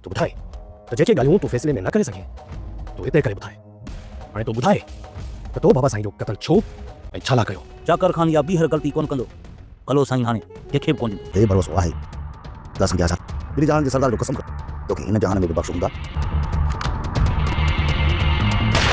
تو ٻڌاء ته جيڪي ڳالهيون تون فيصلي ۾ نه ڪري سگهين، تون هتي ڪري ٻڌاء. هاڻي تون ٻڌاء ته تو بابا سائين جو قتل ڇو ۽ ڇا لاء ڪيو؟ چاڪر خان اها ٻيهر غلطي ڪونه ڪندو. ڀلو سائين هاڻي ڪنهن کي به ڪونه ڏيندو. هي ڀروسو آهي. لا سمجهيا ڇا؟ ٻنهي جهانن جي سردار جو قسم کڻ توکي هن جهان ۾ به بخش هوندا.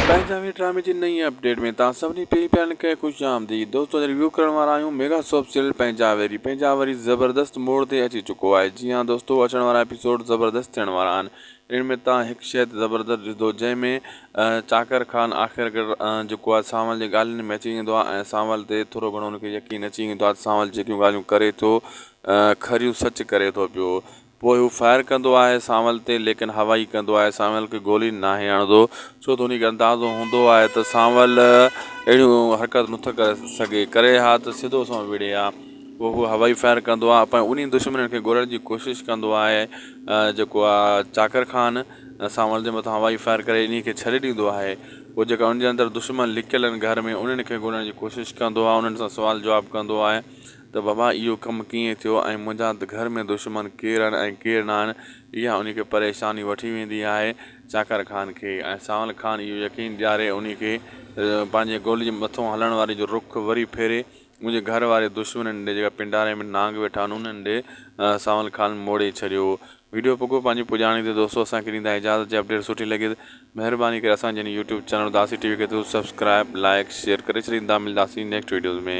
پنجاهوين ڊرامي جي نئين اپڊيٽ ۾ توهان سڀني پيرين پيارن کي خوش آمديد دوستو اڄ ريويو ڪرڻ وارا آهيون ميگا سوپ سيريل پنهنجا ويري پنهنجا وري زبردست موڙ تي اچي چڪو آهي جي ها دوستو اچڻ وارا ايپيسوڊ زبردست ٿيڻ وارا آهن ان ۾ توهان هڪ شئي ته زبردست ڏسدو جنهن ۾ چاڪر خان آخر ڪر جيڪو آهي سانول جي ڳالهين ۾ اچي ويندو آهي ۽ سانول تي ٿورو گهڻو ان کي يقين اچي ويندو آهي ته سانول جيڪيون ڳالهيون ڪري ٿو کريون سچ ڪري ٿو پيو. پوء هو فائر ڪندو آهي سانول تي ليڪن هوائي ڪندو آهي سانول کي گولي ناهي هڻندو ڇو ته انهي کي اندازو هوندو آهي ته سانول اهڙيون حرڪتون نٿو ڪري سگهي ڪري ها ته سڌو سنئون وڙهي ها پوء هو هوائي فائر ڪندو آهي ۽ انهي دشمنن کي ڳولڻ جي ڪوشش ڪندو آهي جيڪو آهي چاڪر خان سانول جي مٿان هوائي فائر ڪري انهي کي ڇڏي ڏيندو آهي پوء جيڪا ان جي اندر دشمن لڪيل آهن گهر ۾ انهن کي ڳولڻ جي ڪوشش ڪندو آهي انهن سان سوال جواب ڪندو آهي ته بابا اهو ڪم ڪيئن ٿيو ۽ منهنجا ته گهر ۾ دشمن ڪير آهن ۽ ڪير نه آهن، اها انهي کي پريشاني وٺي ويندي آهي چاڪر خان کي ۽ سانول خان اهو يقين ڏياري انهي کي پنهنجي گولي جي مٿو هلڻ واري جو رخ وري ڦيري منهنجي گهر واري دشمنن ڏي جيڪا پنڊاري ۾ نانگ ويٺا آهن انهن ڏي سانول خان موڙي ڇڏيو ويڊيو پڳو پنهنجي پڄاڻي تي دوستو اسان کي ڏيندا اجازت جي اپڊيٽ سٺي لڳي ته مهرباني ڪري اسان جي هن يوٽيوب چينل اداسي ٽي وي کي ضرور سبسڪرائب لائيڪ شيئر ڪري ڇڏيندا ملداسين نيڪسٽ ويڊيوز ۾.